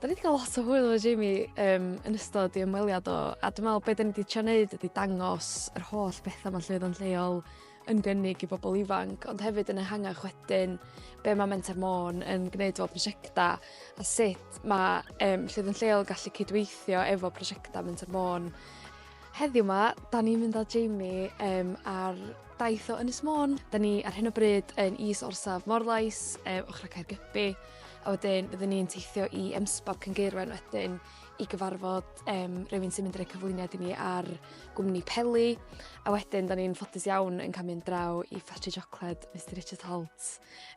Da ni wedi cael lot o hwyl efo Jamie um, yn ystod i ymweliad o, a dwi'n meddwl beth da ni wedi trio wneud ydy dangos yr holl bethau mae'n llwyd o'n lleol yn gynnig i bobl ifanc, ond hefyd yn ehangach wedyn be mae Menter Môn yn gwneud fel prosiectau a sut mae um, llwyd o'n lleol gallu cydweithio efo prosiectau Menter Môn. Heddiw yma, da ni'n mynd â Jamie um, ar daith o Ynys Môn. Da ni ar hyn o bryd yn is orsaf Morlais, um, ochr Caergybi, A wedyn byddwn ni'n teithio i Emsbog Cyngeirwen wedyn i gyfarfod um, rhywun sy'n mynd i roi cyflwyniad i ni ar gwmni Peli. A wedyn, da ni'n ffodus iawn yn cael mynd draw i ffatri siocled Mr Richard Holt,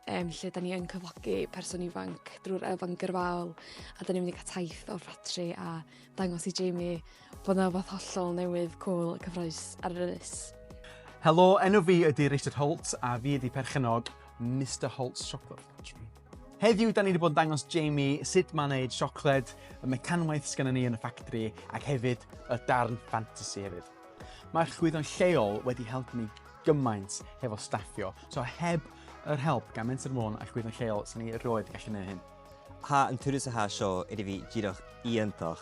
um, lle da ni yn cyflogi person ifanc drwy'r elfen gyrfaol. A da ni'n mynd i cael taith o'r ffatri a dangos i Jamie Bod 'na wbath hollol newydd, cŵl a cyffrous ar yr ynys. Helo, enw fi ydy Richard Holt a fi ydy perchennog Mister Holt's Chocolate Factory. Heddiw, da ni wedi bod yn dangos Jamie sut mae'n neud siocled, y mecanwaith sgan ni yn y ffactri, ac hefyd y darn fantasy hefyd. Mae'r chwyddo'n lleol wedi helpu ni gymaint hefo staffio, so heb yr help gan Menter Môn a'r chwyddo'n lleol, sy'n ni roed gallu gwneud hyn. Ha yn tyrus a ha sio, edrych fi gyda'r iantoch.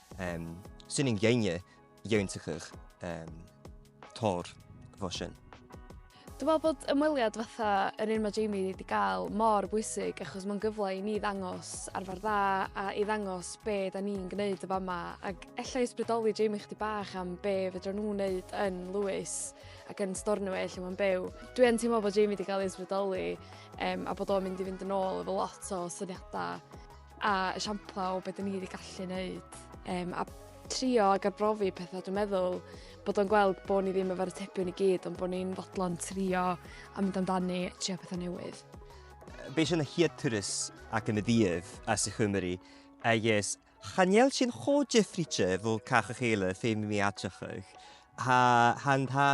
Ehm, swn i'n geinge, iewn tychych, ehm, tor, fosyn. Dwi'n meddwl bod ymweliad fatha yr un mae Jamie wedi gael mor bwysig achos mae'n gyfle i ni ddangos arfer dda a i ddangos be da ni'n gwneud y fama ac efallai ysbrydoli Jamie chdi bach am be fydra nhw'n wneud yn Lewis ac yn Stornoway lle mae'n byw. Dwi yn teimlo bod Jamie wedi cael ei ysbrydoli um, a bod o'n mynd i fynd yn ôl efo lot o syniadau A esiampla o beth dyn ni wedi gallu wneud. Um, a trio ag arbrofi pethau, dwi'n meddwl bod o'n gweld bod ni ddim efo'r atebion i gyd, ond bod ni'n fodlon trio a mynd amdani, trio pethau newydd. Beis yn y hyadturus ac yn y ddydd as i chymru, a ys chaniel sy'n cho jeffriche fo cach eich eile ffeim mi atach eich, ha hand ha